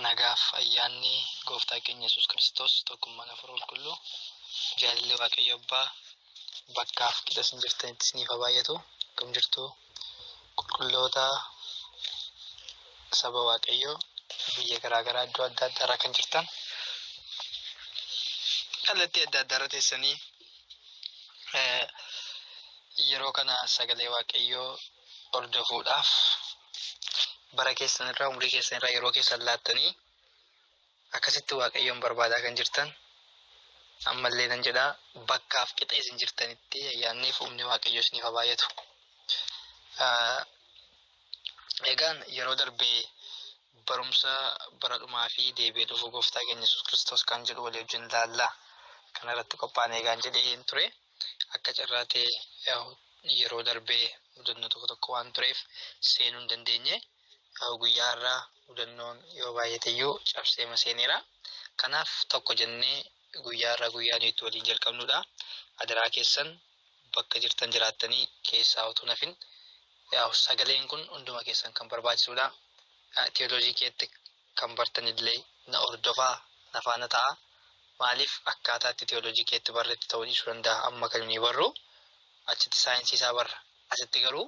Nagaaf ayyaanni gooftaa keenya Yesuus Kiristoos tokkummaan hafuura qulqulluu jaalalli waaqayyo abbaa bakkaaf qixa isin jirtanitti isiniif haa baay'atu. Akkam jirtu? qulqulloota saba waaqayyoo biyya garaa garaa iddoo adda addaa irra kan jirtan kallattii adda addaa irra teessanii eh, yeroo kana sagalee waaqayyoo hordofuudhaaf bara keessan irraa umrii keessan irraa yeroo keessan laattanii Akkasitti Waaqayyoon barbaadaa kan jirtan, ammallee nan jedha, bakkaaf qixa isin jirtanitti ayyaanniif humni Waaqayyoo isiniif haa baay'atu. Egaan yeroo darbe barumsa bara dhumaa fi deebi'ee dhufuu gooftaa keenya Yesuus Kiristoos kan jedhu walii wajjin ilaalla. Kana irratti qophaa'anii egaan jedheen ture. Akka carraa ta'e yeroo darbe mudannoo tokko tokko waan tureef seenuu hin dandeenye. Yaa'u guyyaa har'aa mudannoon yoo baay'ateyyuu cabseema seeneera. Kanaaf tokko jennee guyyaa har'aa guyyaa nuyi itti waliin jalqabnudha. Adaraa keessan bakka jirtan jiraattanii keessaa utuu nafin yaa'u sagaleen kun hunduma keessan kan barbaachisudha. Tiyooloojii keetti kan bartanillee na hordofaa na faana ta'a. Maaliif akkaataa itti tiyooloojii keetti barretti ta'uu dhiisuu danda'a amma kan nuyi barru achitti saayinsii isaa barra. Asitti garuu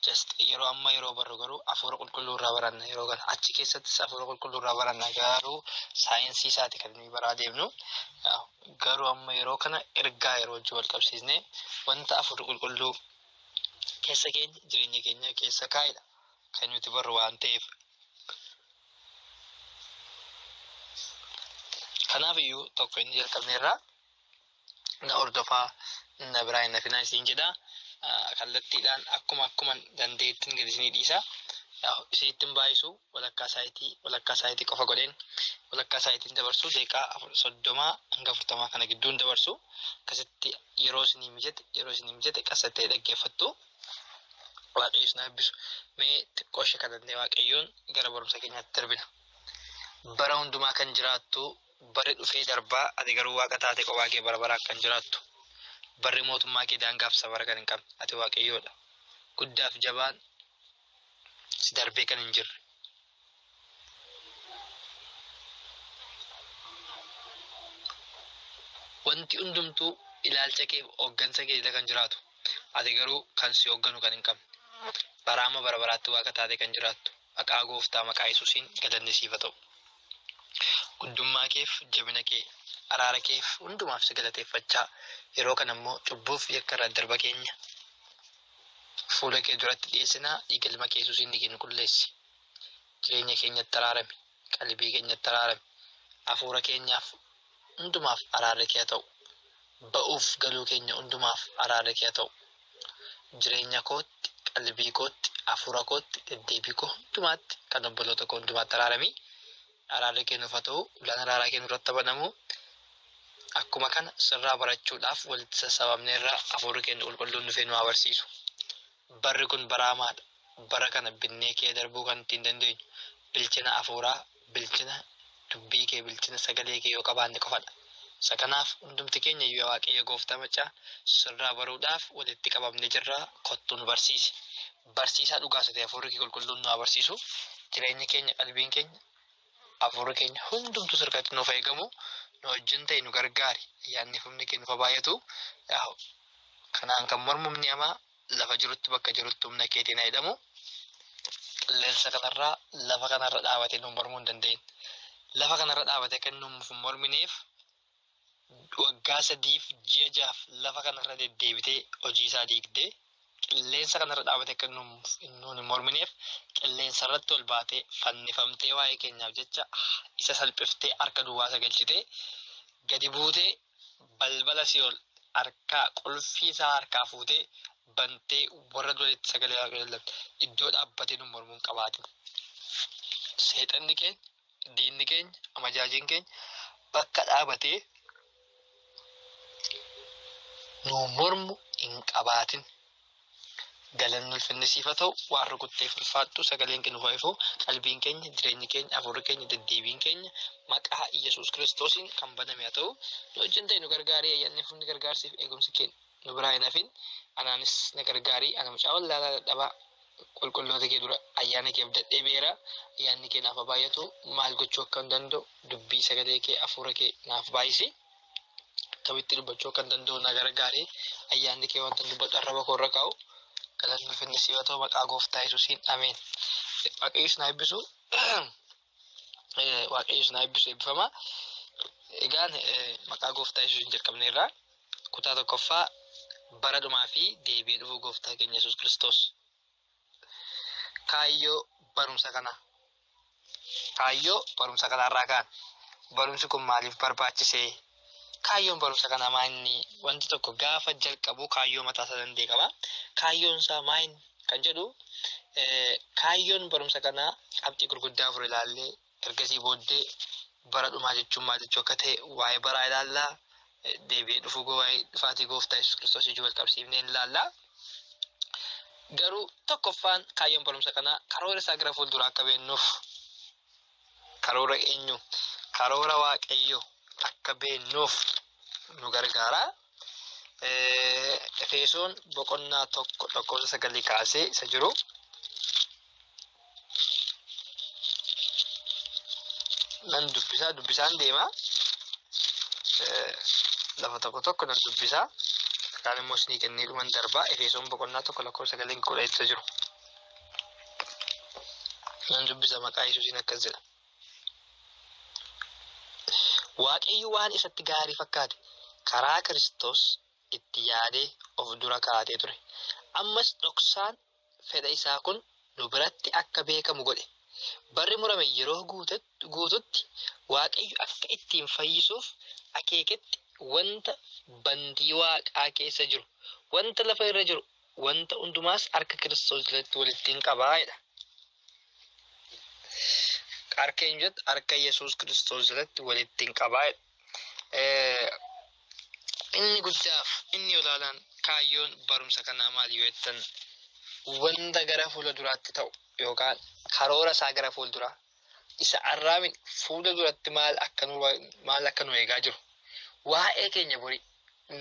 just yeroo amma yeroo barru garuu hafuura qulqulluu irraa baranna yeroo kana achi keessattis hafuura qulqulluu irraa baranna garuu saayinsii isaati kan nuyi baraa deemnu garuu amma yeroo kana ergaa yeroo wajjin wal qabsiisne wanta hafuurri qulqulluu keessa keenya jireenya keenya keessa kaa'edha kan nuti barru waan ta'eef kanaaf iyyuu tokko inni jalqabne irraa na hordofaa na biraa hin hafinaa isiin jedha kallattiidhaan akkuma akkuman dandeettiin gad isinii dhiisa isiittin baay'isu walakkaa saayitii walakkaa saayitii qofa godheen walakkaa saayitiin dabarsu deeqaa soddomaa hanga afurtamaa kana gidduun dabarsu akkasitti yeroo isinii mijate yeroo isinii mijate qasattee dhaggeeffattu waaqayyo isin eebbisu mee xiqqoo ishee kadhannee waaqayyoon gara barumsa keenyaatti darbina bara hundumaa kan jiraattu Barri dhufee darba, ati garuu Waaqa taatee kophaa kee bara baraan kan jiraattu. Barri mootummaa kee daangaaf safara kan hin qabne, ati Waaqayyoo dha. Guddaa fi jabaan si darbee kan hin jirre. Wanti hundumtuu ilaalcha kee fi hooggansa kee jala kan jiraatu, ati garuu kan si hoogganu kan hin qabne. Baraa amma bara baraatti Waaqa taatee kan jiraattu. Maqaa gooftaa maqaa yesuusiin galanni siif ha ta'u guddummaa keef jabina kee araara keef hundumaaf si galateeffachaa yeroo kana immoo cubbuuf yakka irraa darba keenya fuula kee duratti dhiyeessinaa dhiiga ilma kee yesuusiin dhiigi nu qulleessi jireenya keenyatti araarami qalbii keenyatti araarami hafuura keenyaaf hundumaaf araarri kee haa ta'u. Ba'uuf galuu keenya hundumaaf araarri kee haa ta'u. Jireenya kootti, qalbii kootti, hafuura kootti, deddeebii koo hundumaatti, kan obboloota koo hundumaatti araarami. Araarri kee nuuf haa ta'u. Ullaan araaraa kee nurratti haa banamu. Akkuma kana sirraa barachuudhaaf walitti sassaabamneerra hafuurri keenya qulqulluun dhufee nu haa barsiisu. Barri kun bara hamaa dha. Bara kana binnee kee darbuu kan ittiin dandeenyu bilchina afuuraa, bilchina dubbii kee, bilchina sagalee kee yoo qabaanne qofa dha. Isa kanaaf hundumti keenya iyyuu yaa Waaqayyo Gooftaa Maccaa sirraa baruudhaaf walitti qabamnee jirra kottuu nu barsiisi. Barsiisaa dhugaas ati hafuurri kee qulqulluun nu haa barsiisu. Jireenyi keenya, qalbiin keenya, Hafuurri keenya hundumtuu sirkatti nuuf eegamu nu wajjin ta'e nu gargaari. Ayyaanni fi humni kee nuuf baay'atu. Kanaan kan mormu humni hamaa lafa jirutti bakka jirutti humna keetiin haa hidhamu. Qilleensa kanarraa lafa kanarra dhaabatee nu mormuu hin dandeenye. Lafa kanarra dhaabatee kan nuuf hin mormineef waggaa sadiif ji'a ja'aaf lafa kanarra deddeebitee hojii isaa diigdee qilleensa kanarra dhaabate akka nuun hin mormineef qilleensarratti ol baatee fannifamtee waa'ee keenyaaf jecha isa salphiftee harka duwwaa isa galchitee gadi buutee balbala si'ol harkaa qulfii isaa harkaa fuutee bantee warra duritti sagalee waaqayyoo lallatte iddoo dhaabbatee nu mormuun qabaatin seexanni keenya diinni keenya amajaajiin keenya bakka dhaabatee nu mormu hin qabaatin. Galanni ulfinni siif haa ta'u waan rukutteef ulfaadhu sagaleen kee nuuf haa ifu qalbiin keenya jireenyi keenya afuurri keenya deddeebiin keenya maqaa Yesuus Kiristoosiin kan baname haa ta'u nu wajjin ta'e nu gargaarii ayyaanni fuunni gargaarsiif eegumsi keenya. nu biraa hin hafin anaanis na gargaarii ana mucaa wallaalaa dadhabaa qulqulloota kee dura ayyaana kee abdadhee beera ayyaanni kee naaf baay'atu maal gochuu akkan danda'u dubbii sagalee kee hafuura kee naaf baay'isi akkamitti dubbachuu akkan danda'u na gargaarii ayyaanni kee wanta dubbadhu arraba koo irra kaa'u galanni finni si'atoo maqaa gooftaa yesuusiin ameen waaqayyis na eebbisu waaqayyo isin haa eebbisu eebbifama. Egaan maqaa gooftaa yesuusiin jalqabneerra kutaa tokkoffaa bara dhumaa fi deebi'ee dhufuu gooftaa keenya yesuus kiristoos kaayyoo barumsa kana kaayyoo barumsa kanarraa kaan barumsi kun maaliif barbaachisee Kaayyoon barumsa kanaa maa inni wanti tokko gaafa jalqabu kaayyoo mataa isaa danda'e qaba. Kaayyoon isaa maa inni kan jedhu kaayyoon barumsa kanaa qabxii gurguddaa afur ilaallee ergasii booddee bara dhumaa jechuun maal jechuu akka ta'e waa'ee baraa ilaallaa deebi'ee dhufuu waa'ee dhufaatii gooftaa Yesuus Kiristoos ijuu wal qabsiifnee ilaallaa. Garuu tokkoffaan kaayyoon barumsa kanaa karoora isaa gara fuulduraa akka beennuuf Karoora eenyuu? Karoora Waaqayyoo akka beeknuuf nu gargaara. Efeesoon boqonnaa tokko lakkoofsa sagalii kaasee isa jiru. Nan dubbisaa dubbisaan deema. Lafa tokko tokko nan dubbisaa. Kaan immoo isinii kennee dhuman darbaa. Efeesoon boqonnaa tokko lakkoofsa sagalii kudha isa jiru. Nan dubbisa maqaa Yesuusiin akkas jedha. Waaqayyo waan isatti gaarii fakkaate karaa Kiristoos itti yaadee of dura kaa'atee ture. Ammas dhoksaan fedha isaa kun nu biratti akka beekamu godhe. Barri murame yeroo guututti Waaqayyo akka ittiin fayyisuuf akeeketti wanta bantii waaqaa keessa jiru, wanta lafa irra jiru wanta hundumaas harka Kiristoos jalatti walittiin qaba jedha. Harka eenyu jalatti? Harka Yesuus Kiristoos jalatti walittiin qaba jedha. Inni guddaaf inni olaanaan kaayyoon barumsa kanaa maal yoo jettan wanta gara fuula duraatti ta'u yookaan karoora isaa gara fuulduraa isa arraa miti fuula duratti maal akka nu maal akka nu eegaa jiru waa'ee keenya borii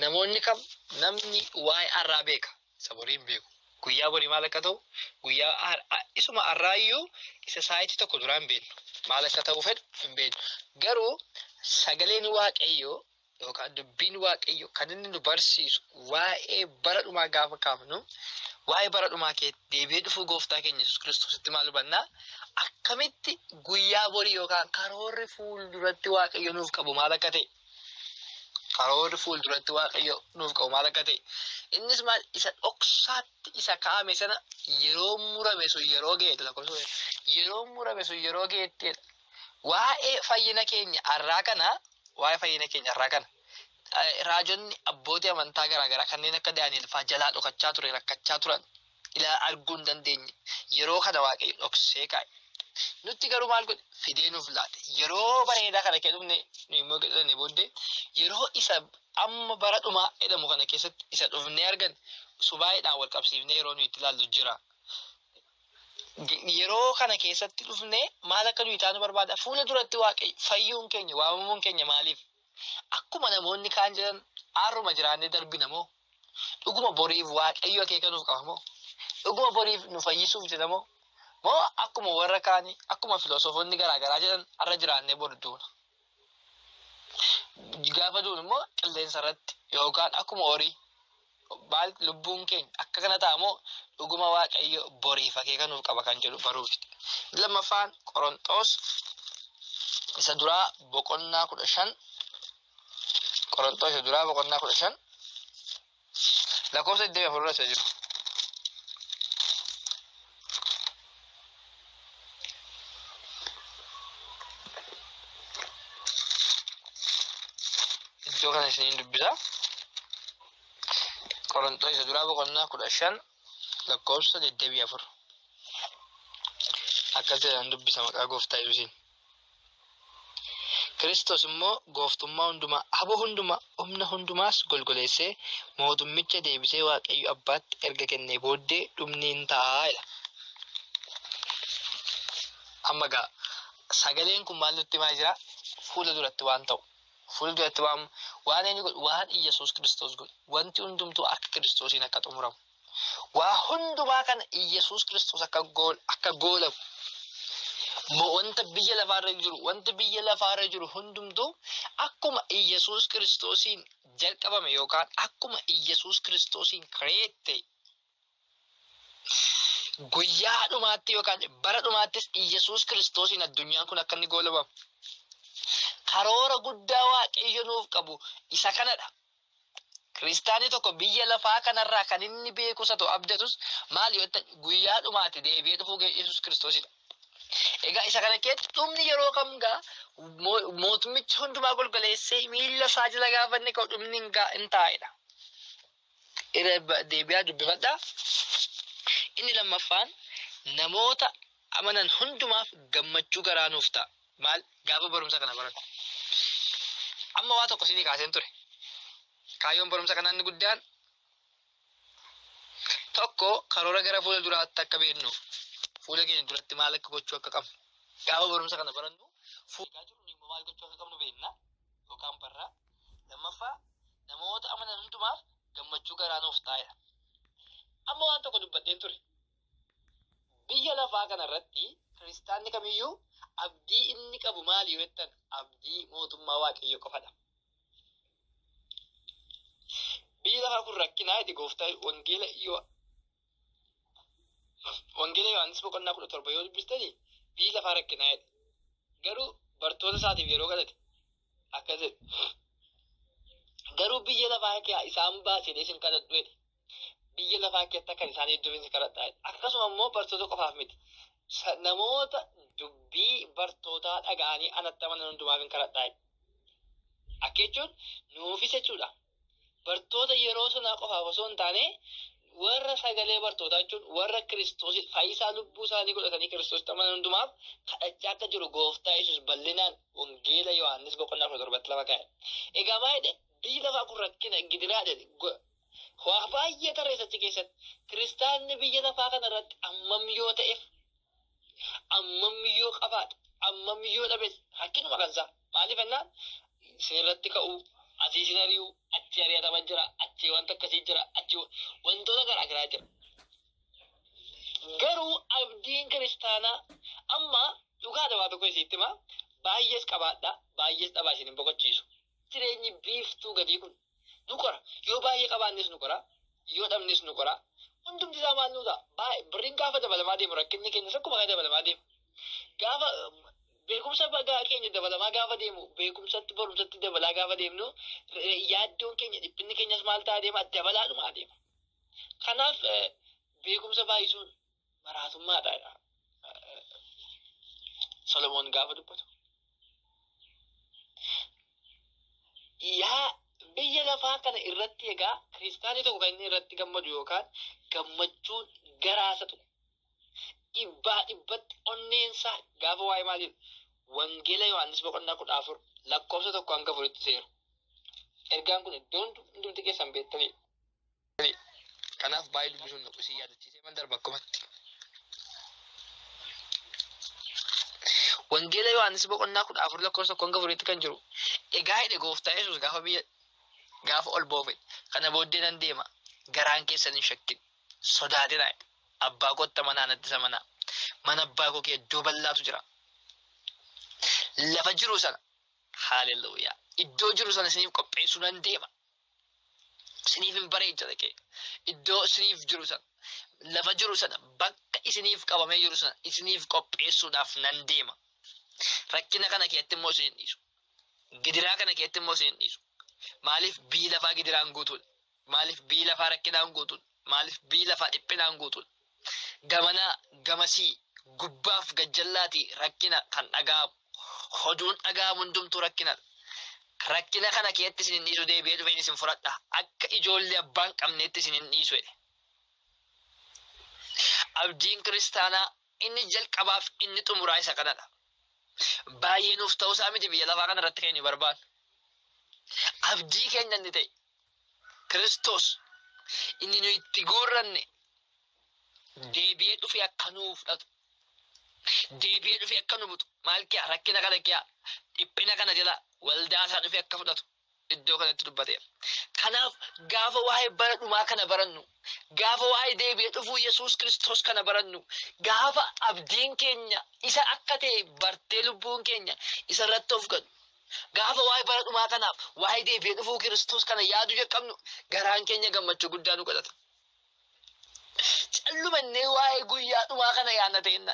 namoonni kam namni waa'ee arraa beeka isa borii hin beeku guyyaa borii maal akka ta'u guyyaa har- a- isuma arraa iyyuu isa saayitii tokko duraa hin beeknu maal akka ta'u fedhu hin beeknu garuu sagaleen waaqayyoo yookaan dubbiin waaqayyo kan inni nu barsiisu waa'ee bara dhumaa gaafa kaafnu waa'ee bara dhumaa kee deebi'ee dhufuu gooftaa keenya Yesuus Kiristoositti maal hubannaa akkamitti guyyaa borii yookaan karoorri fuulduratti waaqayyo nuuf qabu maal akka ta'e karoorri fuulduratti waaqayyo nuuf qabu maal akka ta'e innis maal isa dhoksaatti isa kaa'ame sana yeroo murame sun yeroo ga'e lakkoofsa yeroo murame sun yeroo ga'etti Waa'ee fayyina keenya arraa kana, waa'ee fayyina keenya arraa kana, raajonni abbootii amantaa garaa garaa kanneen akka Daani'el faa jalaa dhokachaa ture, rakkachaa turan ilaa arguu hin dandeenye. Yeroo kana Waaqayyo dhoksee kaa'e. Nutti garuu maal godhe? Fidee nuuf laate. Yeroo bareedaa kana kee dhufne nu immoo jedhanii booddee yeroo isa amma bara dhumaa jedhamu kana keessatti isa dhufnee argan subaa'eedhaan wal qabsiifnee yeroo nuyi itti ilaallu jira. yeroo kana keessatti dhufne maal akka nuyi taanu barbaada fuula duratti waaqayyo fayyuun keenya waamamuun keenya maaliif akkuma namoonni kaan jedhan aarruma jiraannee darbina moo dhuguma boriif waaqayyo akeeka nuuf qaba moo dhuguma boriif nu fayyisuuf jedha moo moo akkuma warra kaanii akkuma filosoofonni garaagaraa jedhan arra jiraannee bor duuna gaafa duun immoo qilleensa irratti yookaan akkuma horii maal lubbuun keenya akka kana ta'a moo dhuguma waaqayyo boriif akeeka nuuf qaba kan jedhu baruufi. Lammaffaan Qoronxoos isa duraa boqonnaa kudha shan Qoronxoos isa duraa boqonnaa kudha shan lakkoofsa 24 irra isa jiru. Iddoo kana isiniin dubbisa. Qoronxoo isa duraa boqonnaa kudha shan lakkoofsa 24. Akkas jedhan dubbisa maqaa gooftaa Yesuusiin. Kiristoos immoo gooftummaa hundumaa, aboo hundumaa, humna hundumaas golgoleessee mootummicha deebisee Waaqayyo Abbaatti erga kennee booddee dhumni in ta'a jedha. Amma gaa sagaleen kun maal nutti himaa jira? Fuula duratti waan ta'u. Fuula duratti waan waan inni godhu waan Iyyasuus Kiristoos godhu wanti hundumtuu akka Kiristoosiin akka xumuramu. Waa hundumaa kana Iyyasuus Kiristoos akka gool akka goolabu mo- wanta biyya lafaarra jiru wanti biyya lafaarra jiru hundumtuu akkuma Iyyasuus Kiristoosiin jalqabame yookaan akkuma Iyyasuus Kiristoosiin create ta'e guyyaa dhumaatti yookaan bara dhumaattis Iyyasuus Kiristoosiin addunyaan kun akka inni goolabamu karoora guddaa waaqayyo nuuf qabu isa kanadha. Kiristaanni tokko biyya lafaa kanarraa kan inni beeku isa ta'u abdatus maal yoo ta'e guyyaa dhumaatti deebi'ee dhufuu ga'e Yesuus Kiristoosidha. Egaa isa kana keessatti dhumni yeroo kam gaa mootummichi hundumaa golgoleessee miila isaa jala gaafanne ka'u dhumni hin gaa hin taa'edha. Irra deebi'aa dubbifadhaa. Inni lammaffaan namoota amanan hundumaaf gammachuu garaa nuuf ta'a. Maal gaafa barumsa kana baratu. Amma waa tokko isinii kaaseen ture. Kaayyoon barumsa kanaa inni guddaan tokko karoora gara fuula duraatti akka beeknu fuula keenya duratti maal akka gochuu akka qabnu gaafa barumsa kana barannu fuula jiru immoo maal gochuu akka qabnu beekna yookaan barra lammaffaa namoota amanan hundumaaf gammachuu garaa nuuf taa'edha. Amma waan tokko dubbadheen ture. Biyya lafaa kana irratti kiristaanni kamiyyuu abdii inni qabu maali yoo jettan abdii mootummaa waaqayyoo qofadha. Biyyi lafaa kun rakkinaa itti gooftaa wangeela yoo wangeela Yohaannis boqonnaa kudha torba yoo dubbistani biyyi lafaa rakkinaa jedhe. Garuu bartoota isaatiif yeroo kadhate akkas jedhe. Garuu biyya lafaa kee isaan baasee isin kadhadhu jedhe. biyya lafaa keessatti akkan isaanii iddoo keessa kadhadha. Akkasuma immoo bartoota qofaaf miti. Namoota dubbii bartootaa dhaga'anii anatti amanan hundumaaf hin kadhadha. Akka jechuun nuufis jechuudha. Bartoota yeroo sanaa qofaaf osoo hin taane warra sagalee bartootaa jechuun warra kiristoos fayyisaa lubbuu isaanii godhatanii kiristoos amanan hundumaaf kadhachaa akka jiru gooftaa yesus bal'inaan wangeela yohaannis boqonnaa kudha torbatti lafa kaa'e. Egaa maal jedhe biyyi lafaa kun rakkina gidiraa jedhe Waa baay'ee tarreessa achi keessatti. Kiristaanni biyya lafaa kana irratti ammam yoo ta'eef, ammam yoo qabaate, ammam yoo dhabes rakkinuma kan isaa. Maaliif jennaan isin irratti ka'uu, asii isin ari'uu, achi ari'atama jira, achi wanta akkasii jira, achi wantoota garaa garaa jira. Garuu abdiin kiristaanaa amma dhugaadha waa tokko isiitti himaa baay'ees qabaadha baay'ees dhabaa isin hin boqochiisu. Jireenyi biiftuu gadii kun nu qora yoo baay'ee qabaannes nu qora yoo dhabnes nu qora hundumti isaa maal nu ta'a baay'ee birriin gaafa dabalamaa deemu rakkinni keenyas akkuma kana dabalamaa deemu gaafa beekumsa bagaa keenya dabalamaa gaafa deemu beekumsatti barumsatti dabalaa gaafa deemnu eh, yaaddoon keenya dhiphinni keenyas maal ta'a deema dabalaadhuma adeema kanaaf eh, beekumsa baay'isuun maraatummaadha jedha Solomoon gaafa dubbatu. Yaa biyya lafaa kana irratti egaa kiristaanii tokko kan inni irratti gammadu yookaan gammachuun garaasa tuqu. Dhibbaa dhibbatti onneensaa gaafa waa'ee maaliif wangeela Yohaannis boqonnaa kudha afur lakkoofsa tokko hanga afuritti seeru. Ergaan kun iddoon hundumti keessan beektanii Ani kanaaf baay'ee dubbisuun naqu isin yaadachiisee man darba akkumatti. Wangeela Yohaannis boqonnaa kudha afur lakkoofsa tokkoon gafuriitti kan jiru egaa hidhe gooftaa Yesuus gaafa biyya gaafa ol boofe kana booddee nan deema garaan keessan hin shakkin sodaatina abbaa kootta manaa natti isa manaa mana abbaa koo kee iddoo bal'aatu jira lafa jiru sana haaleluyyaa iddoo jiru sana isiniif qopheessuu nan deema isiniif hin bareecha dhaqee iddoo isiniif jiru sana lafa jiru sana bakka isiniif qabamee jiru sana isiniif qopheessuudhaaf nan deema. Rakkina kana keessatti immoo isin hin dhiisu. Gidiraa kana keessatti immoo isin hin dhiisu. Maaliif biyyi lafaa gidiraan guutuudha? Maaliif biyyi lafaa rakkinaan guutuudha? Maaliif biyyi lafaa dhiphinaan guutuudha? gamanaa gamasii, gubbaaf gajjallaati rakkina kan dhaga'amu. Hoduun dhaga'amu hundumtuu rakkinadha. Rakkina kana keetti isin hin dhiisu deebi'ee dhufeen isin fudhadha. Akka ijoollee abbaa hin qabneetti isin hin dhiisu jedhe. Abdiin kiristaanaa inni jalqabaaf inni xumuraa isa kanadha. Baay'ee nuuf ta'uusaa miti biyya lafaa kanarratti kan inni barbaadu. Abdii keenya inni ta'e Kiristoos inni nu itti guurranne deebi'ee dhufee akka nuu fudhatu, deebi'ee dhufee akka nu butu, maal kiyaa rakkina kana kiyaa dhiphina kana jala waldaa isaa dhufee akka fudhatu iddoo kanatti dubbateera. Kanaaf gaafa waa'ee bara dhumaa kana barannu, gaafa waa'ee deebi'ee dhufuu Yesuus Kiristoos kana barannu, gaafa abdiin keenya isa akka ta'e bartee lubbuun keenya isa irratti of gadu, Gaafa waa'ee bara dhumaa kanaaf waa'ee deebi'ee dhufuu Kiristoos kana yaaduu jalqabnu garaan keenya gammachuu guddaa nu godhata. Callumannee waa'ee guyyaa dhumaa kana yaadna ta'inna.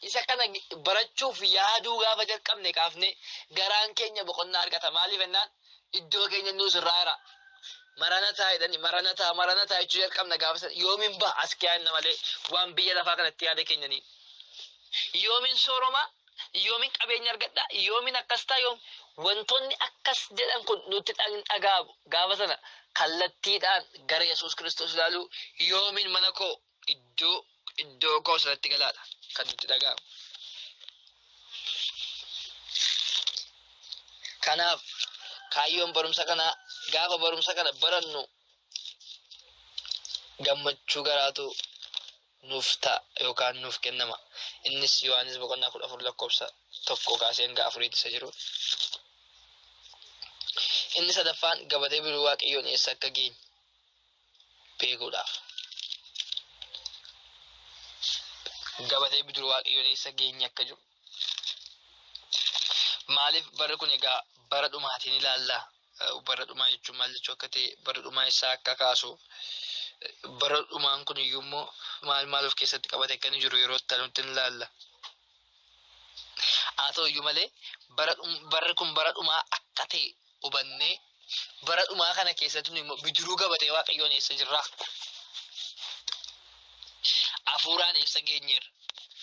Isa kana barachuuf yaaduu gaafa jalqabne kaafne garaan keenya boqonnaa argata. Maaliif ennaan iddoo keenya nuus irraa jira. Maranataa jedhani maranataa maranataa jechuu jalqabna gaafa sana yoomiin ba'a as kiyaan malee waan biyya lafaa kanatti yaada keenyanii. Yoomiin sooroma yoomin qabeenya argadha yoomin akkas ta'a yoom wantoonni akkas jedhan kun nutti hin dhaga'amu gaafa sana kallattiidhaan gara yesuus kiristoos ilaaluu yoomin mana koo iddoo iddoo koo sanatti galaadha kan nutti dhaga'amu. Kanaaf kaayyoon barumsa kanaa gaafa barumsa kana barannu gammachuu garaatu nuuf ta'a yookaan nuuf kennama. Innis Yohaannis boqonnaa 14 lakkoofsa 1 kaasee hanga 4tti isa jiru. Inni sadaffaan gabatee biroo waaqayyoon eessa akka geenye beekuudhaaf. Gabatee biroo waaqayyoon eessa geenye akka jiru Maaliif barri kun egaa bara dhumaatiin ilaalla? Bara dhumaa jechuun maal jechuu akka ta'e bara dhumaa isaa akka kaasu bara dhumaan kun iyyuu immoo maal maal of keessatti qabate akka inni jiru yeroo itti nutti ilaalla. Haa ta'u iyyuu malee barri kun bara dhumaa akka ta'e hubannee bara dhumaa kana keessatti nu immoo bidiruu gabatee waaqayyoon eessa jirraa? Hafuuraan eessa geenyeerra?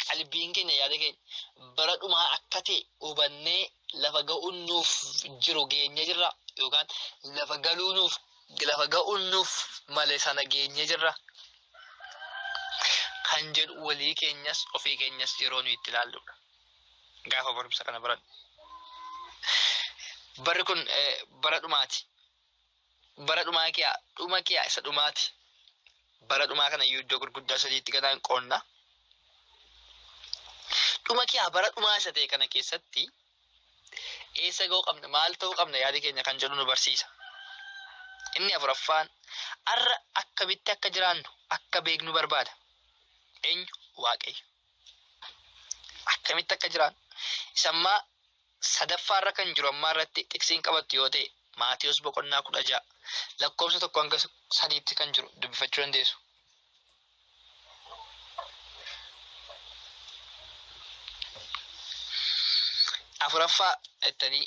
Qalbiin keenya yaada keenya bara dhumaa akka ta'e hubannee lafa ga'uun nuuf jiru geenye jirra yookaan lafa galuu nuuf lafa ga'uun nuuf male sana geenye jirra. Kan jedhu walii keenyas ofii keenyas yeroo nuyi itti ilaalludha. Gaafa barumsa kana baradhu. Barri kun bara dhumaati. Bara dhumaa kiyaa dhuma kiyaa isa dhumaati. Bara dhumaa kana iyyuu iddoo gurguddaa sadiitti ganaan qoonna. Dhuma kiyaa bara dhumaa isa ta'e kana keessatti eessa ga'uu qabna maal ta'uu qabna yaada keenya kan jedhu nu barsiisa. Inni afuraffaan har'a akkamitti akka jiraannu akka beeknu barbaada. Eenyu waaqayyo. akkamitti akka jiraan isammaa sadaffaa irra kan jiru ammaa irratti xiksiin qabattu yoo ta'e Maatiyos boqonnaa kudha ja'a lakkoofsa tokko hanga sadiitti kan jiru dubbifachuu dandeessu. Afuraffaa jettanii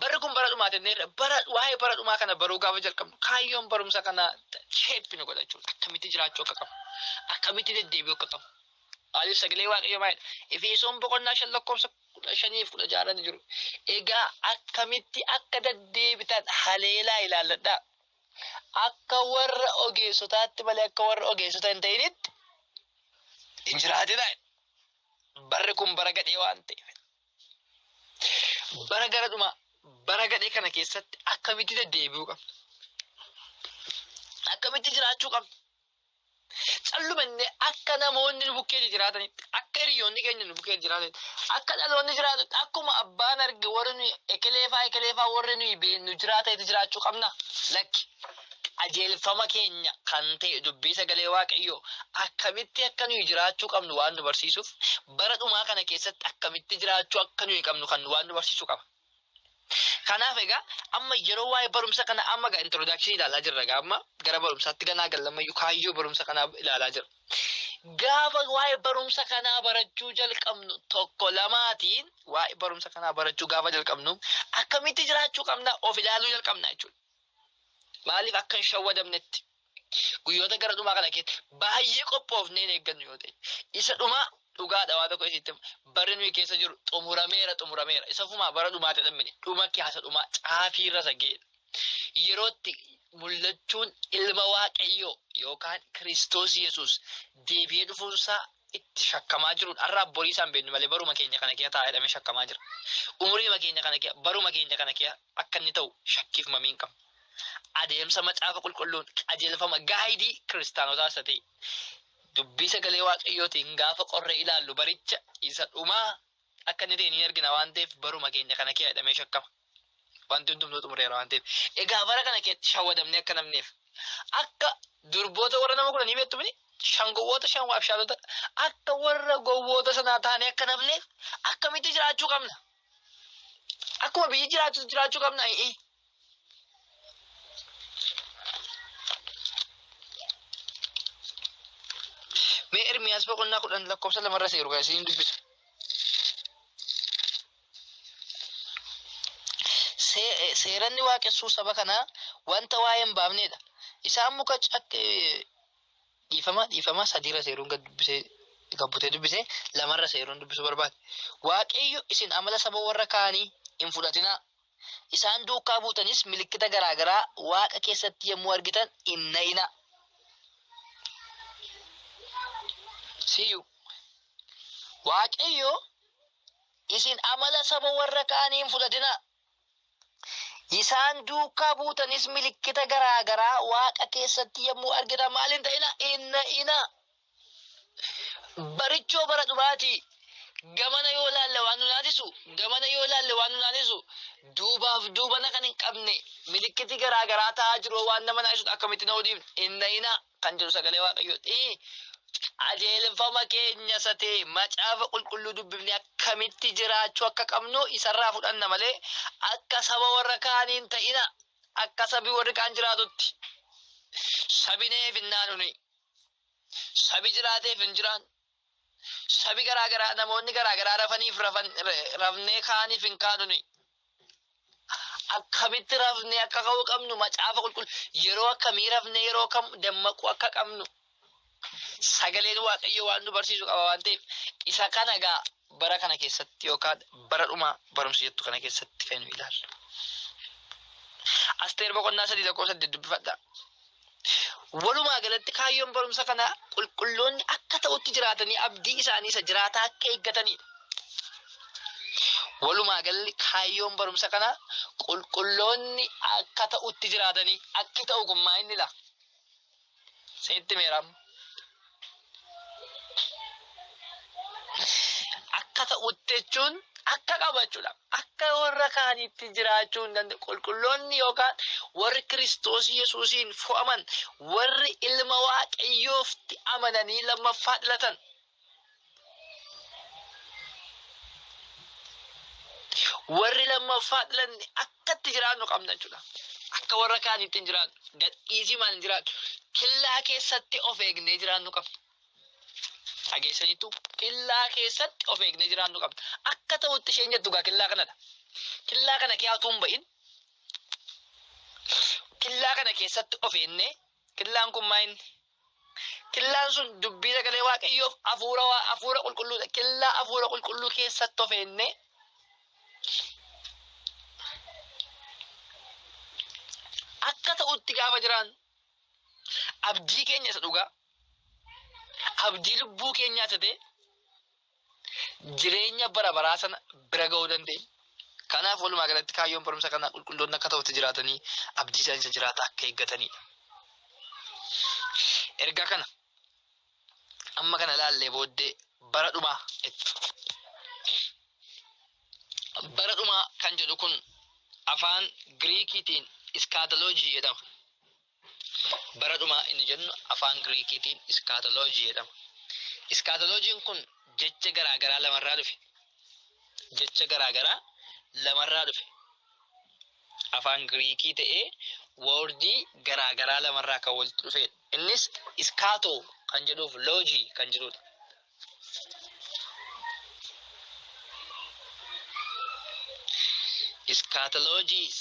Barri kun bara dhumaati jenneerra. Bara waa'ee bara dhumaa kana baruu gaafa jalqabnu kaayyoon barumsa kana sheeppi nu godha jechuudha. Akkamitti jiraachuu akka qabu. Akkamitti deddeebi'uu akka qabu. Maaliif sagalee waaqayyoo maal jedha? Efesoon boqonnaa shan lakkoofsa kudha shaniif kudha jaarran jiru. Egaa akkamitti akka deddeebitan haleelaa ilaalladhaa. Akka warra ogeessotaatti malee akka warra ogeessota hin ta'initti hin jiraatinaa. Barri kun bara gadhee waan ta'eef. Bara gara dhumaa, bara gadhee kana keessatti akkamitti deddeebi'uu qabna? Akkamitti jiraachuu qabna? Callumannee akka namoonni nu bukkee jiraatanitti, akka hiriyoonni keenya nu bukkee jiraatanitti, akka dhaloonni jiraatutti, akkuma abbaan arge warri nuyi ekeleefaa ekeleefaa warri nuyi beennu jiraatanitti jiraachuu qabna? Lakki. qajeelfama keenya kan ta'e dubbii sagalee Waaqayyoo akkamitti akka nuyi jiraachuu qabnu waan nu barsiisuuf bara dhumaa kana keessatti akkamitti jiraachuu akka nuyi qabnu kan waan nu barsiisu qaba. Kanaaf egaa amma yeroo waa'ee barumsa kana amma egaa introdakshinii ilaalaa jirra egaa amma gara barumsaatti ganaa gallammayyu kaayyoo barumsa kanaa ilaalaa jirra. Gaafa waa'ee barumsa kanaa barachuu jalqabnu tokko lamaatiin waa'ee barumsa kanaa barachuu gaafa jalqabnu akkamitti jiraachuu qabna of ilaaluu jalqabna jechuudha. Maaliif akka hin shawwadamnetti guyyoota gara dhumaa kana keessa baay'ee qophoofnee hin eeggannu yoo ta'e isa dhumaa dhugaadha waa tokko isitti barri nuyi keessa jiru xumurameera xumurameera isa fumaa bara dhumaatti dhammine dhuma keessa dhumaa caafii irra isa ga'eedha. Yerootti mul'achuun ilma waaqayyoo yookaan Kiristoos Yesuus deebi'ee dhufuunsaa itti shakkamaa jiruun har'a borii isaan beeknu malee baruma keenya kana keessa taa'ee dhamee shakkamaa jira. Umuriima keenya kana keessa baruma keenya kana keessa akka inni ta'u shakkiif mamii hin qabnu. Adeemsa macaafa qulqulluun qajeelfama gaayidii kiristaanotaa isa ta'e dubbii sagalee waaqayyootiin gaafa qorree ilaallu baricha isa dhumaa akka inni ta'e ni argina waan ta'eef baruma keenya kana kee jedhamee shakkama. Wanti hundumtuu xumureera waan ta'eef. Egaa bara kana keessatti shawwadamnee akka namneef akka durboota warra nama kudhanii beektu mini shan gowwoota shan waabshaalota akka warra gowwoota sanaa taanee akka namneef akkamitti jiraachuu qabna? Akkuma biyyi jiraatu jiraachuu qabna. Ee. Mee Ermiyaas boqonnaa kudhan lakkoofsa lamarra seeru kan isin dubbisu. See- eh, Seeranni waaqessuu saba kanaa wanta waa'ee hin baafnedha. Isaan muka cak- eh, Dhiifama dhiifama sadiirra seeruun gad dubbisee gad butee dubbise lamarra seeruun dubbisuu barbaade. Waaqayyo isin amala saba warra kaanii hin fudhatinaa. Isaan duukaa buutanis milikkita garaa garaa Waaqa keessatti yommuu argitan hin na'inaa. Siyyuu Waaqayyo isin amala saba warra kaanii hin fudhatinaa. Isaan duukaa buutanis milikkita garaa garaa Waaqa keessatti yommuu argitan maal hin ta'ina? Hin na'ina. Barichoo bara dhumaatii gamana yoo laalle waan nu naasisu, gamana yoo laalle waan nu naasisu, duubaaf duubana kan hin qabne milikkiti garaa garaa ta'aa jiru waan nama naasisuudha akkamitti na'uu dhiifna? Hin na'ina. kan jedhu sagalee waaqayyooti. Qajeelfama keenya isa ta'e macaafa qulqulluu dubbifne akkamitti jiraachuu akka qabnu isarraa fudhanna malee akka saba warra kaanii hin ta'ina. Akka sabi warri kaan jiraatutti. Sabi neef hin naanuni. Sabi jiraateef hin jiraan. Sabi garaa garaa namoonni garaa garaa rafaniif rafan rafnee kaaniif hin kaanu nuyi. Akkamitti rafnee akka ka'uu qabnu macaafa qulqulluu yeroo akkamii rafnee yeroo kam dammaquu akka qabnu sagaleen waaqayyo waan nu barsiisu qaba waan ta'eef isa kana gaa bara kana keessatti yookaan bara dhumaa barumsa jettu kana keessatti kan nu ilaallu. Asteer boqonnaa sadii tokko saddeet dubbifadha. Walumaa galatti kaayyoon barumsa kanaa qulqulloonni akka ta'utti jiraatanii abdii isaanii isa jiraataa akka eeggataniidha. Walumaa galli kaayyoon barumsa kanaa qulqulloonni akka ta'utti jiraatanii akki ta'u kun maa inni laa? Seetti meeraam. akka ta'utti jechuun akka qabachuudha. Akka warra kaaniitti jiraachuu hin danda'u. Qulqulloonni yookaan warri Kiristoos Yesuusiin fo'aman warri ilma Waaqayyoofti amananii lammaffaa dhalatan. Warri lammaffaa dhalanne akkatti jiraannu qabna jechuudha. Akka warra kaaniitti hin jiraannu. Gadhiisii maal hin jiraannu. Killaa keessatti of eegnee jiraannu qabna. Dhageessaniitu killaa keessatti of eegnee jiraannu qabna. Akka ta'utti isheen jettu gaa killaa kanadha. Killaa kana keessaa hin ba'in. Killaa kana keessatti of eegnee killaan kun maa inni Killaan sun dubbii sagalee waaqayyoof afuura waa afuura qulqulluudha. Killaa afuura qulqulluu keessatti of eennee akka ta'utti gaafa jiraan abdii keenya isa dhugaa abdii lubbuu keenyaa isa ta'e jireenya bara baraa sana bira ga'uu dandeenyu. Kanaaf walumaa galatti kaayyoon barumsa kanaa qulqulloonni akka ta'utti jiraatanii abdii isaanii isa jiraata akka eeggataniidha. Erga kana amma kana ilaallee booddee bara dhumaa itti. Bara dhumaa kan jedhu kun afaan Giriikiitiin iskaataloojii jedhama. Bara dhumaa inni jennu afaan Giriikiitiin iskaatoloojii jedhama. Iskaatoloojiin kun jecha garaa garaa lamarraa dhufe. Jecha garaa garaa lamarraa dhufe. Afaan Giriikii ta'ee woordii garaa garaa lamarraa kan walitti dhufedha. Innis iskaatoo kan jedhuuf loojii kan jedhudha. Iskaatoloojiis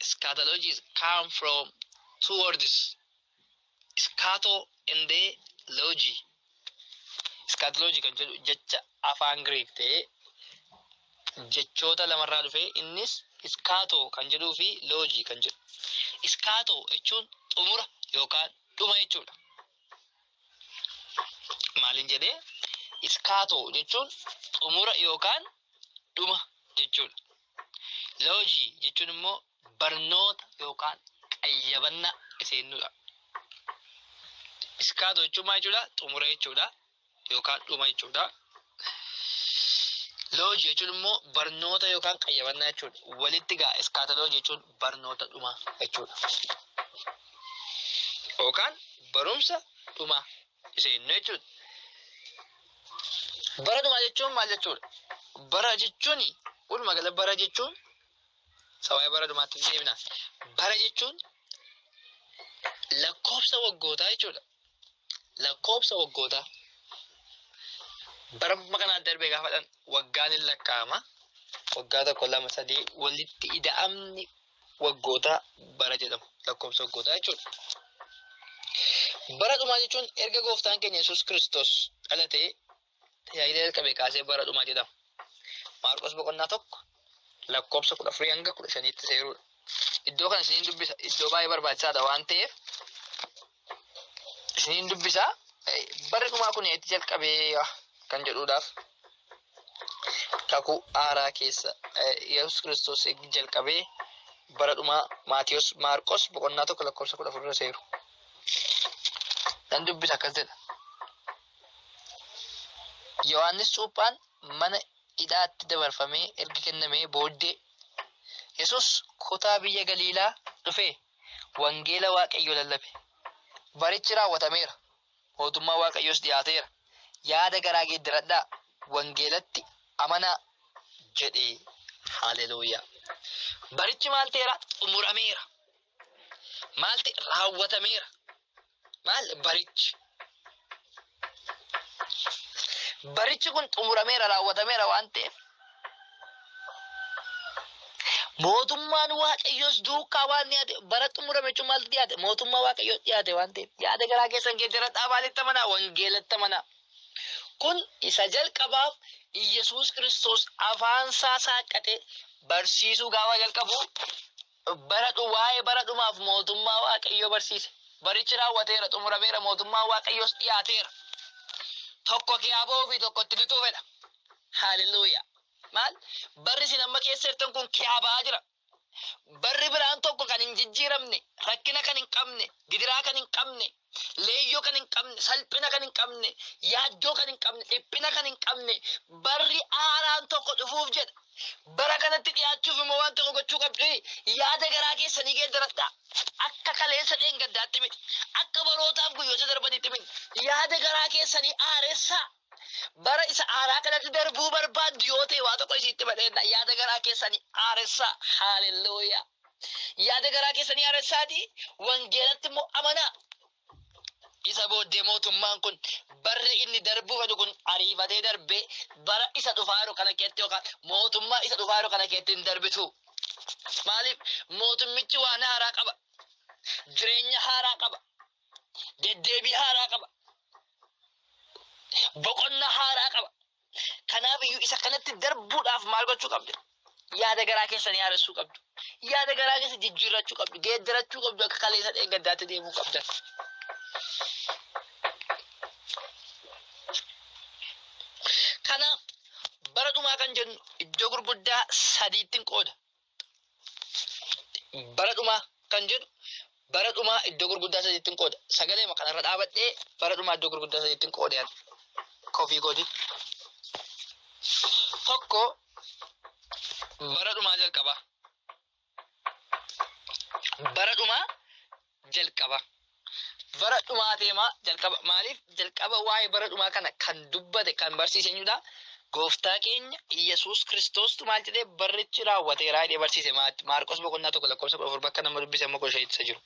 Scatologies come from two words, scato and logi. Scatology kan jedhu jecha afaan Greek ta'ee jechoota lamarraa dhufee innis scato kan jedhuu fi logi kan jedhu. Scato jechuun xumura yookaan dhuma jechuudha. Maaliin jedhee? Scato jechuun xumura yookaan dhuma jechuudha. Loojii jechuun immoo barnoota yookaan qayyabannaa iseennuudha. Iskaatoo jechuun maal jechuudha? Xumura jechuudha yookaan dhuma jechuudha. Loojii jechuun immoo barnoota yookaan qayyabannaa jechuudha. Walitti gaa iskaataloojii jechuun barnoota dhumaa jechuudha. Yookaan barumsa dhumaa. seennu jechuudha. Bara dhumaa jechuun maal jechuudha? Bara jechuun walumaa gala bara jechuun sababii bara dhumaatti deebina. Bara jechuun lakkoofsa waggootaa jechuudha. Lakkoofsa waggootaa. Bara kanaa darbee gaafadhan waggaan hin lakkaa'ama. Waggaa tokko lama sadii walitti ida'amni waggootaa bara jedhamu lakkoofsa waggootaa jechuudha. Bara dhumaa jechuun erga gooftaan keenya Yesuus Kiristoos dhalatee tajaajila jalqabe kaasee bara dhumaa jedhama. Maarqos boqonnaa tokko lakkoofsa kudha afurii hanga kudha shaniitti seeruudha. Iddoo kana isiniin dubbisa. Iddoo baay'ee barbaachisaadha waan ta'eef isiniin dubbisa barri dhumaa kun itti jalqabee kan jedhuudhaaf kakuu haaraa keessa yesus kiristoos jalqabee bara dhumaa maatiyos maarqos boqonnaa tokko lakkoofsa kudha afur irra seeru nan dubbisa akkas jedha yohaannis cuuphaan mana hidhaatti dabarfamee erga kennamee booddee yesus kutaa biyya galiilaa dhufee wangeela Waaqayyoo lallabe. Barichi raawwatameera, mootummaa Waaqayyoos dhiyaateera, yaada garaa geeddaradhaa, wangeelatti amanaa jedhe. Haleluuyaa! Barichi maal ta'eera? Xumurameera. Maal ta'e? Raawwatameera. maal barichi barichi kun xumurameera raawwatameera waan ta'eef mootummaan waaqayyoos duukaa waan dhiyaate bara xumurame jechuun maaltu dhiyaate mootummaa waaqayyoo dhiyaate waan ta'eef yaada garaa keessan keessa jiradhaa maalitti amanaa wangeelatti amanaa kun isa jalqabaaf Iyyasuus Kiristoos afaan isaa saaqqatee barsiisuu gaafa jalqabu Baradhu, waa'ee bara dhumaaf mootummaa Waaqayyoo barsiise. Barichi raawwateera, xumurameera, mootummaan Waaqayyoos dhiyaateera. Tokko kee aboo fi tokko itti lixuu fedha. Haaleluyyaa! Maal? Barri isin amma keessa jirtan kun kiyaa ba'aa jira. Barri biraan tokko kan hin jijjiiramne, rakkina kan hin qabne, gidiraa kan hin qabne, leeyyoo kan hin qabne, salphina kan hin qabne, yaaddoo kan hin qabne, dhiphina kan hin qabne, barri haaraan tokko dhufuuf jedha. Bara kanatti dhiyaachuuf immoo waan tokko gochuu qabdu yaada garaa keessanii geeddaradhaa. Akka kaleessa dheengaddaatti miti. Akka barootaaf guyyoota darbanitti miti. Yaada garaa keessanii haaressaa. Bara isa aanaa kanatti darbuu barbaaddu yoo ta'e waa tokko isiitti madheenna. Yaada garaa keessanii haaressaa. Haalelluuyaa. Yaada garaa keessanii haaressaatii wangeelatti immoo amanaa. Isa booddee mootummaan kun barri inni darbuu fedhu kun ariifatee darbee bara isa dhufaa jiru kana keessatti yookaan mootummaa isa dhufaa jiru kana keessatti hin darbitu. Maaliif mootummichi waan haaraa qaba. Jireenya haaraa qaba. Deddeebii haaraa qaba. Boqonnaa haaraa qaba. Kanaaf iyyuu isa kanatti darbuudhaaf maal gochuu qabdu? Yaada garaa keessan yaadachuu qabdu. Yaada garaa keessa jijjiirrachuu qabdu. Geeddarachuu qabdu akka kaleessa dheengaddaatti deemuu qabdan. Kanaaf bara dhumaa kan jennu iddoo gurguddaa sadiittiin qooda. bara dhumaa kan jedhu bara dhumaa iddoo gurguddaa sadiittiin qooda. Sagalee kanarra dhaabadhee bara dhumaa iddoo gurguddaa sadiittiin qoode ani. Kofii kooti. Tokko bara dhumaa jalqabaa. Bara dhumaa jalqaba bara dhumaa teemaa jalqaba maaliif jalqaba waa'ee bara dhumaa kana kan dubbate kan barsiise eenyudha gooftaa keenya Iyyasuus Kiristoostu maal jedhee barrichi raawwateeraa jedhee barsiise Maarqos boqonnaa tokko lakkoofsa kudha afur bakka nama dubbise amma kudha shanitti jiru.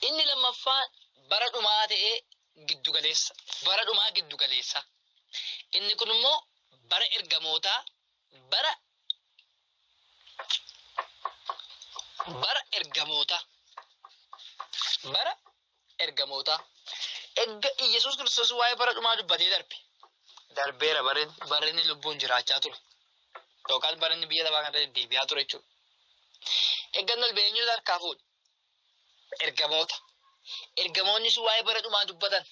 Inni lammaffaa bara dhumaa ta'ee giddugaleessa bara dhumaa giddugaleessa inni kun immoo bara ergamootaa Bara bara ergamootaa bara ergamootaa erga Iyyasuus Kiristoos waa'ee bara dhumaa dubbatee darbe darbeera bara bara inni lubbuun jiraachaa ture yookaan bara inni biyya lafaa kana deddeebi'aa ture jechuudha. Eeggannoon beenyuun harkaa fuudhe. Ergamoota. Ergamoonni sun waa'ee bara dhumaa dubbatan.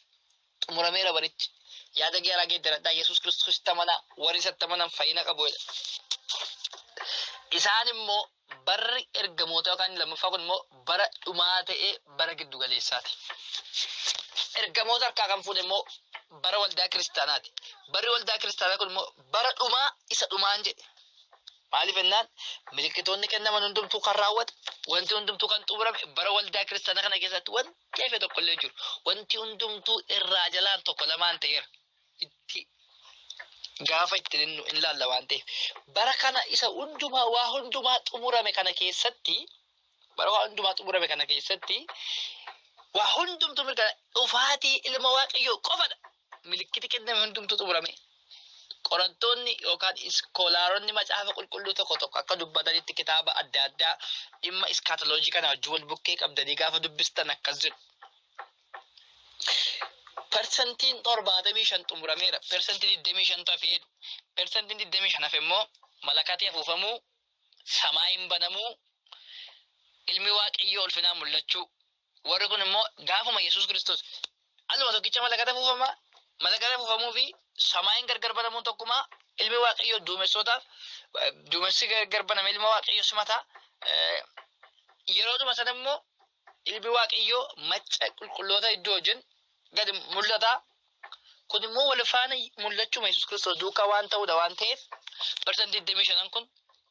Xumurameera barichi. Yaada gaaraa geeddaradhaa Yesuus Kiristoositti amanaa warri isatti amanan fayyina qabu jedha. Isaan immoo barri ergamoota yookaan lammaffaa kun immoo bara dhumaa ta'ee bara giddu galeessaati. Ergamoota harkaa kan fuudhe immoo bara waldaa kiristaanaati. Barri waldaa kiristaanaa kun immoo bara dhumaa isa dhumaan jedhe. Maaliif jennaan, milikkitoonni kennaman hundumtuu kan raawwate, wanti hundumtuu kan xumurame bara waldaa kiristaanaa kana keessatti wanti hafe tokko illee hin jiru. Wanti hundumtuu irraa jalaan tokko lamaan ta'eera. Itti gaafa itti hinnu in laalla waan ta'eef. Bara kana isa hundumaa waa hundumaa xumurame kana keessatti bara waa hundumaa xumurame kana keessatti waa hundumtuu mirkana dhufaatii ilma waaqayyoo qofadha. milikkiti kenname hundumtuu xumurame. Qorattoonni yookaan iskoolaaronni macaafa qulqulluu tokko tokko akka dubbatanitti kitaaba adda addaa dhimma iskaatoloojii kana wajjin wal bukkee qabdanii gaafa dubbistan akkas jedhu. Persentiin torbaatamii shan xumurameera. Persentii digdamii shantu hafe jedhu. Persentiin digdamii shan hafe immoo malakatee afuufamuu, samaayiin banamuu, ilmi waaqayyoo ulfinaan mul'achuu Warri kun immoo gaafuma Yesuus Kiristoos aluma tokkicha malakata buufama, malakata buufamuu fi samaayin gargar banamuun tokkumaa ilmi waaqayyoo duumessootaaf duumessi gargar baname ilma waaqayyoo simataa yeroodhuma sana immoo ilmi waaqayyoo macca qulqulloota iddoo wajjin gadi mul'ata. Kun immoo wal faana mul'achuma Yesuus Kiristoos duukaa waan ta'udha waan ta'eef barsan 25 kun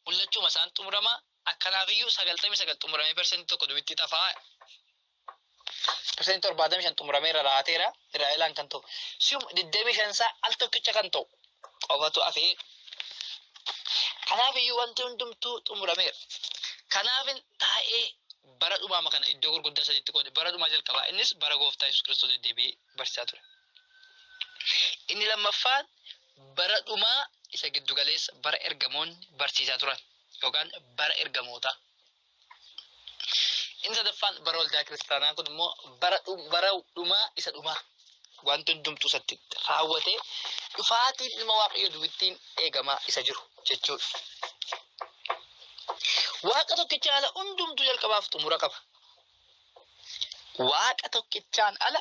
mul'achuma isaan xumurama Akkanaafiyyuu 99 xumuramee persentii tokko dubitti tafaa persentii 75 xumuramee irra raateera irraa ilaan kan ta'u sium 25 isaa al tokkicha kan ta'u qofatu afee kanaafiyyuu wanti hundumtuu xumurameera kanaafin taa'ee bara dhumaama kana iddoo gurguddaa sadiitti qoode bara dhumaa jalqabaa innis bara gooftaa yesus kiristoos deddeebi'ee barsiisaa ture inni lammaffaan bara dhumaa isa giddugaleessa bara ergamoonni barsiisaa turan yookaan bara ergamootaa. Inni sadaffaan bara waldaa kiristaanaa kun immoo bara dhum- bara dhumaa isa dhumaa wanti hundumtuu isatti raawwatee dhufaatiin ilma waaqayyo duwwittiin eegamaa isa jiru jechuudha. Waaqa tokkichaan ala hundumtuu jalqabaaf xumura qaba. Waaqa tokkichaan ala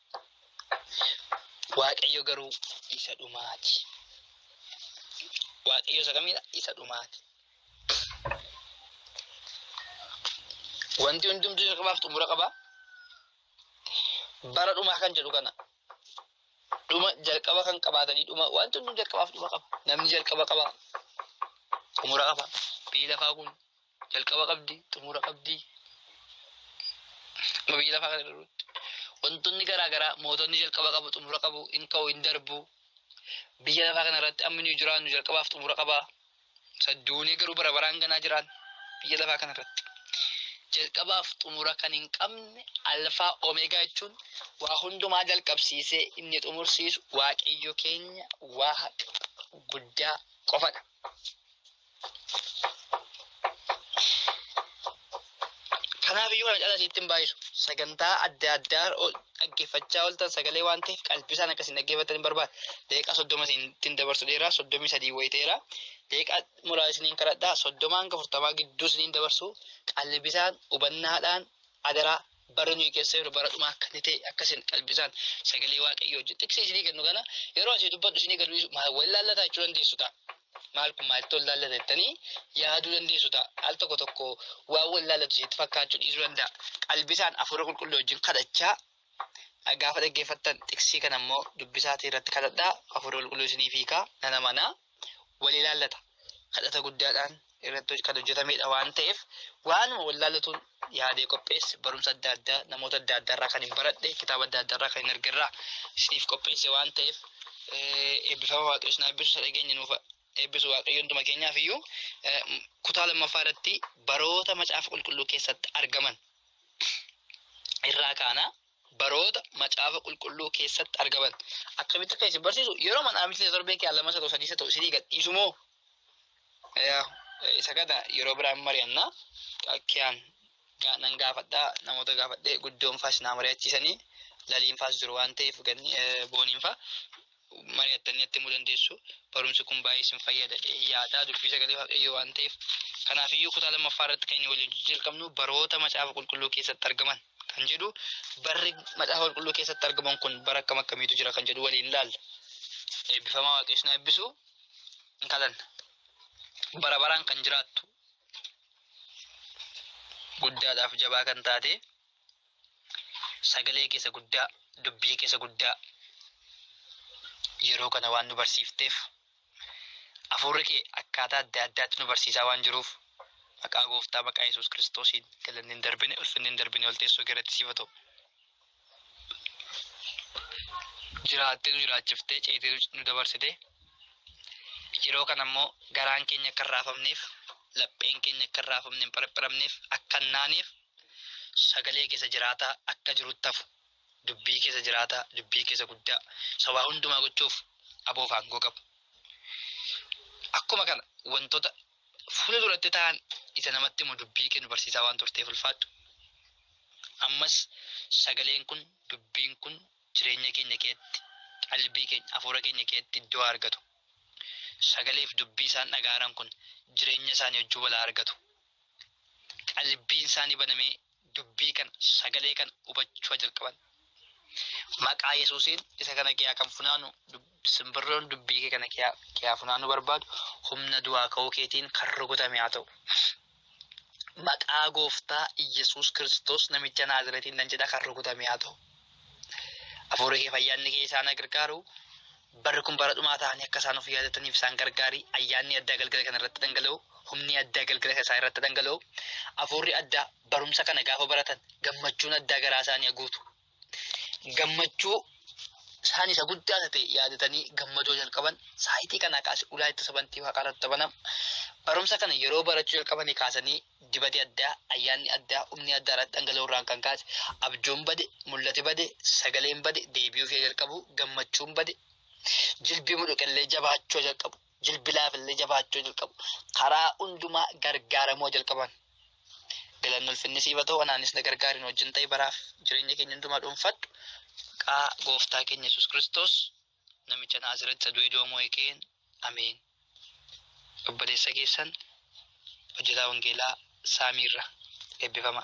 Waaqayyo garuu isa dhumaati. Waaqayyo isa kamiidha? Isa dhumaati. Wanti hundumtuu jalqabaaf xumura qaba. Bara dhumaa kan jedhu kana. Dhuma jalqaba kan qabaatanii dhuma wanti hundumtuu jalqabaaf dhuma qaba. Namni jalqaba qaba. Xumura qaba. Biyyi lafaa kun jalqaba qabdi xumura qabdi amma biyya lafaa kana irratti wantoonni garaa garaa mootonni jalqaba qabu xumura qabu hin ka'u hin darbu biyya lafaa kana irratti amma nuyi jiraannu jalqabaaf xumura qaba sadduunee garuu bara baraan ganaa jiraan biyya lafaa kana irratti jalqabaaf xumura kan hin qabne alfaa omeegaa jechuun waa hundumaa jalqabsiisee inni xumursiisu waaqayyo keenya waaqa guddaa qofadha. Kanaaf iyyuu kana caalaa sitti hin baay'isu. Sagantaa adda addaa dhaggeeffachaa ooltan sagalee waan ta'eef qalbisaan akka isin dhaggeeffattan hin barbaada. Daqiiqaa soddoma isinittiin dabarsu dheeraa soddomii sadii wayii ta'eera. Daqiiqaa muraasa isiniin kadhadhaa soddomaa hanga afurtamaa gidduu isiniin dabarsu qalbisaan hubannaadhaan adaraa bara nuyi keessa jiru bara dhumaa akka inni ta'e akka isin qalbisaan sagalee waaqayyoo hojii xiqsii isinii kennu kana yeroo asii dubbadhu isinii gadu dhiisu maal wal laallataa jechuu dandeessu ta'a. Maal kun maalitti wal laallata jettanii yaaduu dandeessu ta'a. Al tokko tokko waan wal laallatu isinitti fakkaachuu dhiisuu danda'a. Qalbisaan hafuura qulqulluu wajjin kadhachaa gaafa dhaggeeffattan xiqsii kana immoo dubbisaatii irratti kadhadhaa hafuura qulqulluu isiniif hiikaa nan amanaa. wal ilaallata. Kadhata guddaadhaan irratti kan hojjetamedha waan ta'eef waanuma wal ilaallatuun yaadee qopheesse barumsa adda addaa namoota adda addaarraa kan hin baradhe kitaaba adda addaarraa kan hin argerraa isiniif qopheesse waan ta'eef eebbifama waaqayyo isin eebbisu isa dhageenye nuuf eebbisu waaqayyo hunduma keenyaaf iyyuu kutaa lammaffaa irratti baroota macaafa qulqulluu keessatti argaman irraa kaana baroota macaafa qulqulluu keessatti argaman akkamitti akka isin barsiisu yeroo mana amntii torbee kee lama sadoo sadii sadoo isinii gadhiisu moo isa kana yeroo biraan mari'anna kiyaan nan gaafadhaa namoota gaafadhee guddoon faas naa mari'achiisanii laliin faas jiru waan ta'eef ganni booniin faa mari'attanii natti himuu dandeessu. Barumsi kun baay'ee isin fayyada jedhee yaada. Dubbii sagalee Waaqayyoo waan ta'eef. Kanaaf iyyuu kutaa lammaffaa irratti kan inni waliin jalqabnu baroota macaafa qulqulluu keessatti argaman kan jedhu barri macaafa qulqulluu keessatti argaman kun bara akkam akkamiitu jira kan jedhu waliin ilaalla. Eebbifamaa Waaqayyoon na eebbisu hin kadhanna. Bara baraan kan jiraattu guddaadhaaf jabaa kan taate Sagalee kee isa guddaa, dubbii kee isa guddaa yeroo kana waan nu barsiifteef hafuurri kee akkaataa adda addaatti nu barsiisaa waan jiruuf maqaa gooftaa maqaa Yesuus Kiristoosiin galanni hin darbine ulfinni hin darbine ol teessoo kee irratti siif haa ta'u. Jiraattee nu jiraachiftee ceetee nu dabarsitee yeroo kana immoo garaan keenya akka hin raafamneef lapheen keenya akka hin raafamne hin pharapharamneef akka hin naaneef Sagalee keessa jiraataa akka jirutti hafu, dubbii keessa jiraataa, dubbii keessa guddaa, isa waa hundumaa gochuuf aboof aangoo qabu. Akkuma kana wantoota fuula duratti ta'an isa namatti himu dubbii kee nu barsiisaa waan turteef ulfaadhu. Ammas sagaleen kun dubbiin kun jireenya keenya keessatti qalbii keenya hafuura keenya keessatti iddoo argatu. Sagaleef dubbii isaan dhagaaran kun jireenya isaanii wajjin wal argatu. qalbiin isaanii banamee dubbii kana sagalee kana hubachuu jalqaban. Maqaa Yesuusiin isa kana kiyaa kan funaanu simbirroon dubbii kee kana kiyaa kiyaa funaanuu barbaadu humna du'aa ka'uu keetiin kan rukutame haa ta'u. Maqaa gooftaa Yesuus Kiristoos namicha Naazireetiin nan jedha kan rukutame haa ta'u. Hafuurri kee fayyaanni kee isaan haa gargaaru. Barri kun bara dhumaa ta'anii akka isaan of yaadataniif isaan gargaari. Ayyaanni addaa galgala kana irratti dhangala'u, humni addaa galgala isaa irratti dhangala'u, hafuurri addaa barumsa kana gaafa baratan gammachuun addaa garaa isaanii haguutu. Gammachuu isaan isa guddaa isa ta'e yaadatanii gammadoo jalqaban saayitii kanaa kaasee ulaa itti sabantii waaqaa irratti banama. Barumsa kana yeroo barachuu jalqabanii kaasanii dibati addaa, ayyaanni addaa, humni addaa irratti dhangala'uu irraan kan kaase, abjuun bade, mul'ati bade, sagaleen bade, deebi'uu fi jalqabuu, gammachuun bade, jilbi mudhuqe illee jabaachuu jalqabu, jilbi laafe illee jabaachuu jalqabu, karaa hundumaa gargaaramuu jalqaban. Galanni ulfinni siif haa ta'u, anaanis na gargaari, nu wajjin ta'i baraaf jireenya keenya hundumaa dhuunfadhu. Maqaa gooftaa keenya Yesuus Kiristoos. namicha Naazreetti du'e du'a moo'e keen ameen. Obboleessa keessan hojjetaa wangeelaa saamiirra eebbifama.